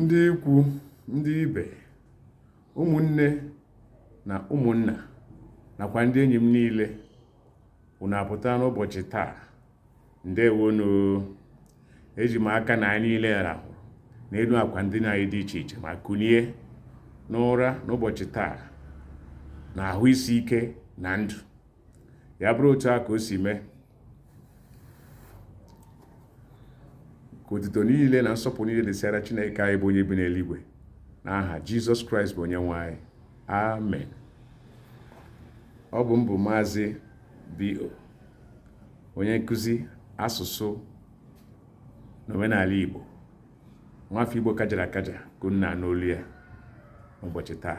ndị ikwu ndị ibe ụmụnne na ụmụnna nakwa ndị enyi m niile unu apụta n'ụbọchị taa ndewonu eji m aka na anyị niile rahụ n'elu akwa ndina anyị dị iche iche ma kunie n'ụra n'ụbọchị taa na ahụ isi ike na ndụ ya bụrụ otu a ka o si mee ka otuto niile na nsọpụrụ niile dịsịara Chineke anyị bụ onye bi n'eluigwe n'aha Jizọs Kraịst bụ onye nwe anyị amen ọ bụ m bụ maazị B.O. onye nkụzi asụsụ na omenala Igbo nwafọ Igbo kajara akaja ka unu na-anụ olu ya n'ụbọchị taa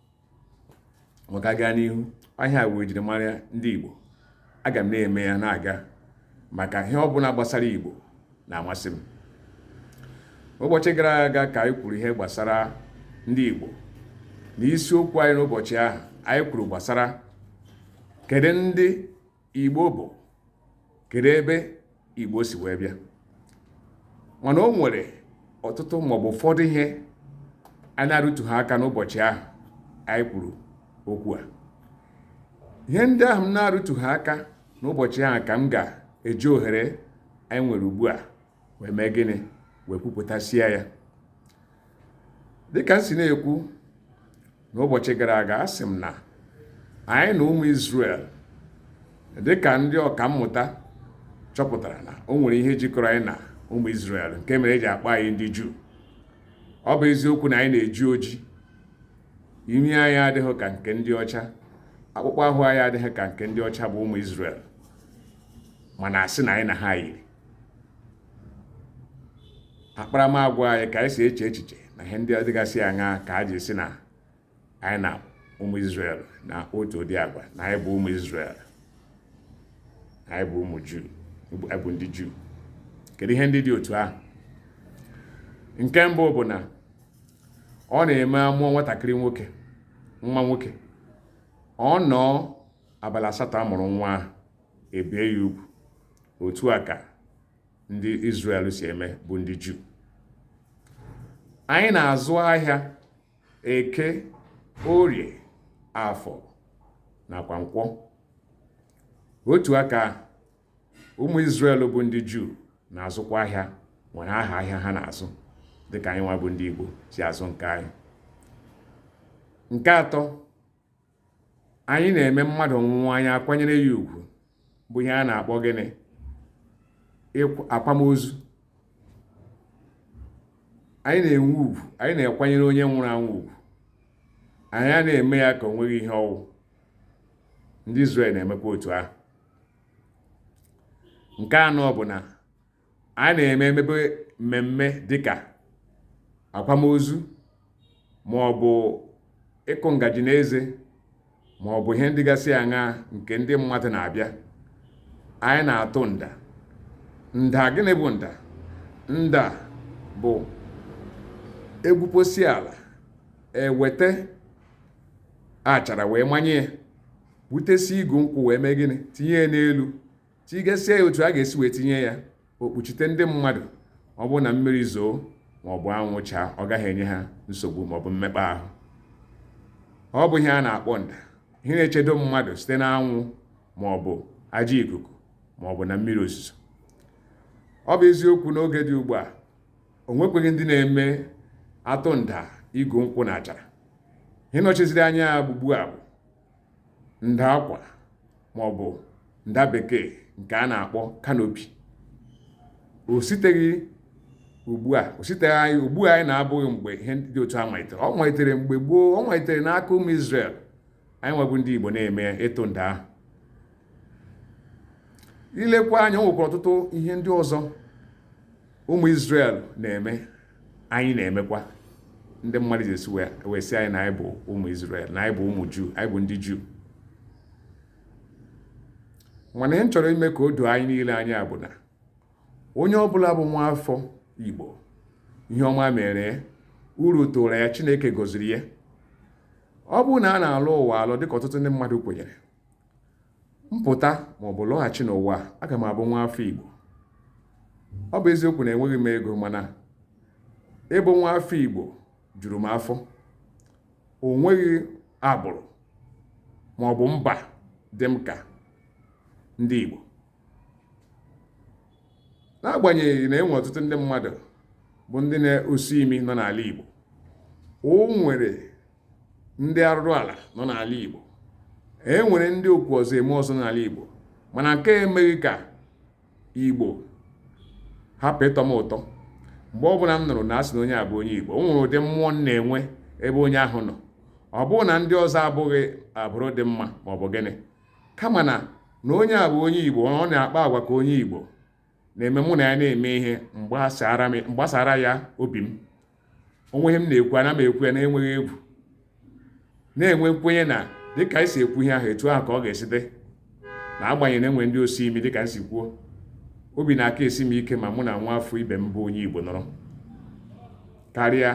maka aga n'ihu ihe a wee jiri mara ndị Igbo aga m na-eme ya na-aga maka ihe ọbụla gbasara Igbo na-amasị m ụbọchị gara aga ka anyị kwuru ihe gbasara ndị Igbo na isiokwu anyị n'ụbọchị ahụ anyị kwuru gbasara kedu ndị igbo bụ kedu ebe igbo si wee bịa mana o nwere ọtụtụ maọbụ ụfọdụ ihe a na-arụtụghị aka n'ụbọchị ahụ anyị kwuru okwu a ihe ndị ahụ m na-arụtụghị aka n'ụbọchị ahụ ka m ga-eji ohere anyị nwere ugbu a wee mee gịnị wee kwupụtasịa ya dịka m si na-ekwu n'ụbọchị gara aga a sị m na anyị na ụmụ Izrel dịka ndị ọka mmụta chọpụtara na o nwere ihe jikọrọ anyị na ụmụ Izrel nke mere eji akpọ anyị ndị Juu ọ bụ eziokwu na anyị na-eji oji imi anyị adịghị ka nke ndị ọcha akpụkpọ ahụ anyị adịghị ka nke ndị ọcha bụ ụmụ Izrel mana a sị na anyị na ha yiri akparamagwa anyị ka anyị si eche echiche na ihe ndị dịgasị aṅa ka a ji sị na anyị na ụmụ Izrel na otu ụdị agwa na anyị bụ ụmụ Izrel anyị bụ ụmụ Juu anyị bụ ndị Juu kedu ihe ndị dị otu ahụ nke mbụ bụ na ọ na-eme a mụọ nwatakịrị nwoke nwa nwoke ọ nọọ abalị asatọ a mụrụ nwa ahụ e bie ya ugwu otu a ka ndị Izrel si eme bụ ndị Juu anyị na-azụ ahịa eke orie afọ nakwa nkwọ otu a ka ụmụ Izrel bụ ndị Juu na-azụkwa ahịa nwere aha ahịa ha na-azụ dịka anyị nwa bụ ndị Igbo si azụ nke anyị nke atọ anyị na-eme mmadụ nwụọ anyị akwanyere ya ugwu bụ ihe a na-akpọ gịnị akwamozu anyị na-enwe ugwu anyị na-ekwanyere onye nwụrụ anwụ ugwu anyị anaghị eme ya ka o nweghị ihe ọ wụ ndị Izrel na-emekwa otu ahụ nke anọ bụ na anyị na-eme e mebe mmemme dịka akwamozu ma ọ bụ ịkụ ngaji n'eze ma ọ bụ ihe ndị gasị aṅaa nke ndị mmadụ na-abịa anyị na-atụ nda nda gịnị bụ nda nda bụ e gwuposịa ala e weta achara wee manye ya butesie igu nkwụ wee mee gịnị tinye ya n'elu tigasịa ya otu a ga-esi wee tinye ya o kpuchite ndị mmadụ ọ bụrụ na mmiri zoo ma ọ bụ anwụ chaa ọ gaghị enye ha nsogbu ma ọ bụ mmekpa ahụ ọ bụ ihe a na-akpọ nda ihe na-echedo mmadụ site n'anwụ ma ọ bụ ajọ ikuku ma ọ bụ na mmiri ozuzo ọ bụ eziokwu n'oge dị ugbu a o nwekweghị ndị na-eme atụ nda igu nkwụ na achara ihe nọchiziri anya ya ugbugbu a bụ nda akwa ma ọ bụ nda bekee nke a na-akpọ kanopi o siteghị ugbu a o siteghị anyị ugbu a anyị nọ abụghị mgbe ihe dị otu a malitere ọ malitere mgbe gboo ọ malitere n'aka ụmụ Izrel anyịnwa bụ ndị Igbo na-eme ịtụ nda ahụ i lekwa anya o nwekwara ọtụtụ ihe ndị ọzọ ụmụ Izrel na-eme anyị na-emekwa ndị mmadụ ji esi wee sị anyị na anyị bụ ụmụ Izrel na anyị bụ ụmụ Juu anyị bụ ndị Juu mana ihe m chọrọ ime ka o doo anyị niile anya bụ na onye ọbụla bụ nwa afọ Igbo ihe ọma mere uru tụrụ ya Chineke gọziri ya ọ bụrụ na a na-alọ ụwa alọ dịka ọtụtụ ndị mmadụ kwenyere m pụta maọbụ lọghachi n'ụwa aga m abụ nwa afọ Igbo ọ bụ eziokwu na enweghị m ego mana ịbụ nwa afọ Igbo juru m afọ o nweghị agbụrụ maọbụ mba dị m ka ndị Igbo n'agbanyeghị na e nwe ọtụtụ ndị mmadụ bụ ndị na-osi imi nọ n'ala Igbo o nwere ndị arụrụ ala nọ n'ala Igbo e nwere ndị okwu ọzọ eme ọzọ n'ala Igbo mana nke a emeghị ka Igbo hapụ ịtọ m ụtọ mgbe ọbụla m nụrụ na a sị na onye a bụ onye Igbo o nwere ụdị mmụọ m na-enwe ebe onye ahụ nọ ọ bụghị na ndị ọzọ abụghị agbụrụ dị mma ma ọ bụ gịnị kama na na onye a bụ onye Igbo ọ na-akpa agwa ka onye Igbo na-eme mụ na ya na-eme ihe mgbasara ya obi m o nwee ihe m na-ekwu ana m ekwu ya na-enweghị egwu na-enwe nkwenye na dịka anyị si ekwu ihe ahụ etu ahụ ka ọ ga-esi dị na agbanyeghị na e nwee ndị osi imi dịka m si kwuo obi na-aka esi m ike ma mụ na nwa afọ ibe m bụ onye Igbo nọrọ karịa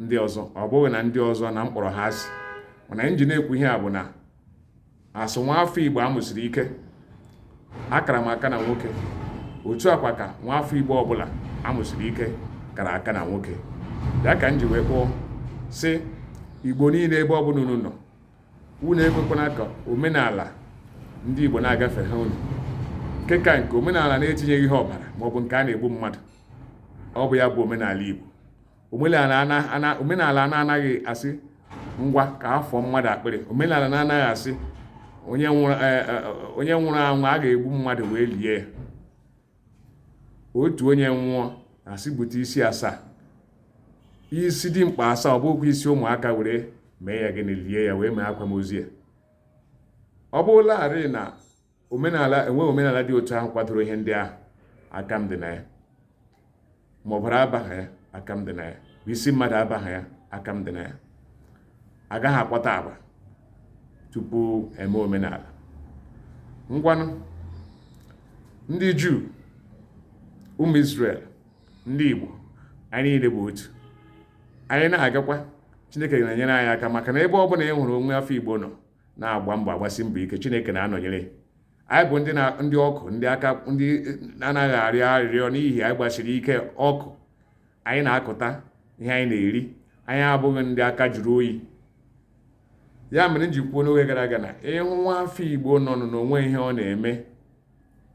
ndị ọzọ ọ bụghị na ndị ọzọ na m kpọrọ ha asị mana m ji na-ekwu ihe a bụ na asụ nwa afọ igbo amụsiri ike akara m aka na nwoke otu a kwa ka nwa afọ igbo ọbụla amụsiri ike kara aka na nwoke ya ka m ji wee kwuo sị igbo niile ebe ọbụla unu nọ unu ekwekwana ka omenala ndị igbo na-agafe ha unu nke ka nke omenala na-etinyeghị ihe ọbara maọbụ nke a na-egbu mmadụ ọ bụ ya bụ omenala igbo omenala na-anaghị asị ngwa ka a fọọ mmadụ akpịrị omenala na-anaghị asị onye nwụrụ e, e, e, anwụ a ga-egbu mmadụ wee lie ya otu onye nwụọ a sị bute isi asaa isi dimkpa asaa ọ bụghịkwa isi ụmụaka were mee ya gịnị lie ya wee mee akwamozu ya ọ bụrụlarị na enweghị omenala dị otu ahụ kwadoro ihe ndị ahụ aka m dị na ya ma ọbara abaghị ya aka m dị na ya bụ isi mmadụ abaghị ya aka m dị na ya agaghị akwata agba tupu eme omenala ngwanụ ndị juu ụmụ isrel ndị igbo anyị niile bụ otu anyị na-agakwa chineke na-enyere anyị aka maka na ebe ọ bụla ị hụrụ nwa afọ igbo nọ na-agba mbọ agbasi mbọ ike chineke na-anọnyere anyị bụ ndị ndị ọkụ ndị aka ndị anaghị arịọ arịrịọ n'ihi anyị gbasiri ike ọkụ anyị na-akụta ihe anyị na-eri anyị abụghị ndị aka jụrụ oyi ya mere m ji kwuo n'oge gara aga na ị hụ nwa afọ igbo nọ na o nweghị ihe ọ na-eme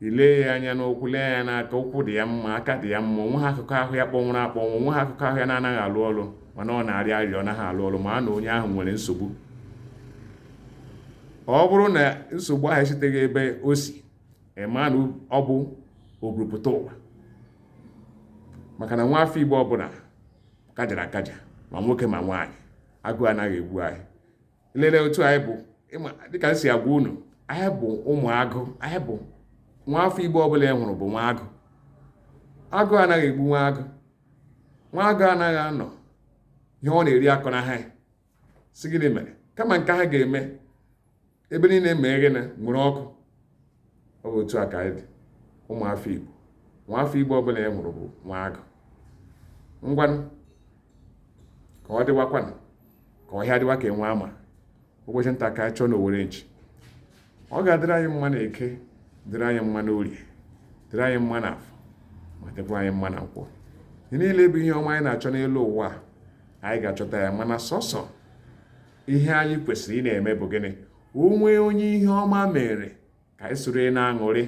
i lee ya anya n'ụkwụ lee ya n'aka ụkwụ dị ya mma aka dị ya mma o nweghị akụkụ ahụ ya kpọnwụrụ akpọnwụ o nweghị akụkụ ahụ ya na-anaghị alụ ọrụ mana ọ na-arịọ arịrịọ ọ naghị alụ ọrụ mara na onye ahụ nwere nsogbu ọ bụrụ na nsogbu ahụ esiteghị ebe o si ị ma na ọ bụ oburupụta ụwa maka na nwa afọ igbo ọbụla kajara akaja ma nwoke ma nwaanyị agụụ anaghị egbu anyị lele otu anyị bụ dịka m si agwa unu anyị bụ ụmụ agụ anyị bụ nwa afọ igbo ọbụla ị hụrụ bụ nwa agụ agụụ anaghị egbu nwa agụ nwa agụ anaghị anọ ihe ọ na-eri akọ na ha sị gịnị mere kama nke ahụ ga-eme ebe niile mee gịnị nwere ọkụ ọ bụ otu a ka anyị dị ụmụafọ Igbo nwaafọ Igbo ọbụla ị hụrụ bụ nwa agụ ngwanụ ka ọ dịwakwanụ ka ọhịa dịwa ka enwe ama ụbọchị nta ka a chụọ na owere nchi ọ ga-adịrị anyị mma na eke dịrị anyị mma na orie dịrị anyị mma na afọ ma dịkwa anyị mma na nkwọ ihe niile bụ ihe ọma anyị na-achọ n'elu ụwa anyị ga-achọta ya mana sọsọ ihe anyị kwesịrị ị na-eme bụ gịnị o nwee onye ihe ọma mere ka anyị soro na-aṅụrị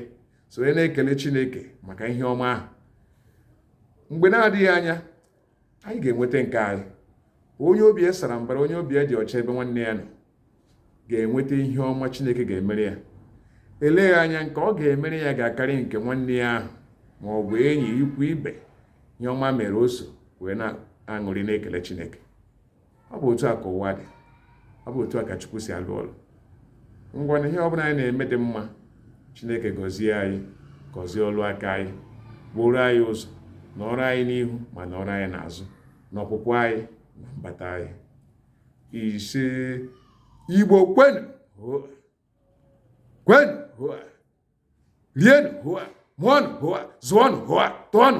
soro na-ekele chineke maka ihe ọma ahụ mgbe na-adịghị anya anyị ga-enweta nke anyị onye obi ya sara mbara onye obi ya dị ọcha ebe nwanne ya nọ ga-enweta ihe ọma chineke ga-emere ya eleghị anya nke ọ ga-emere ya ga-akarị nke nwanne ya ahụ ma ọ bụ enyi ikwu ibe ihe ọma mere o so wee na-aṅụrị na-ekele chineke ọ bụ otu a ka ụwa dị ọ bụ otu a ka Chukwu si alụ ọlụ ngwanụ ihe ọ bụla anyị na-eme dị mma Chineke gọzie anyị gọzie ọlụ aka anyị gbuoro anyị ụzọ nọrọ anyị n'ihu ma nọrọ anyị n'azụ na ọpụpụ anyị na mbata anyị isee Igbo kwenu kwenu rienu mụọnụ zụọnụ tụọnụ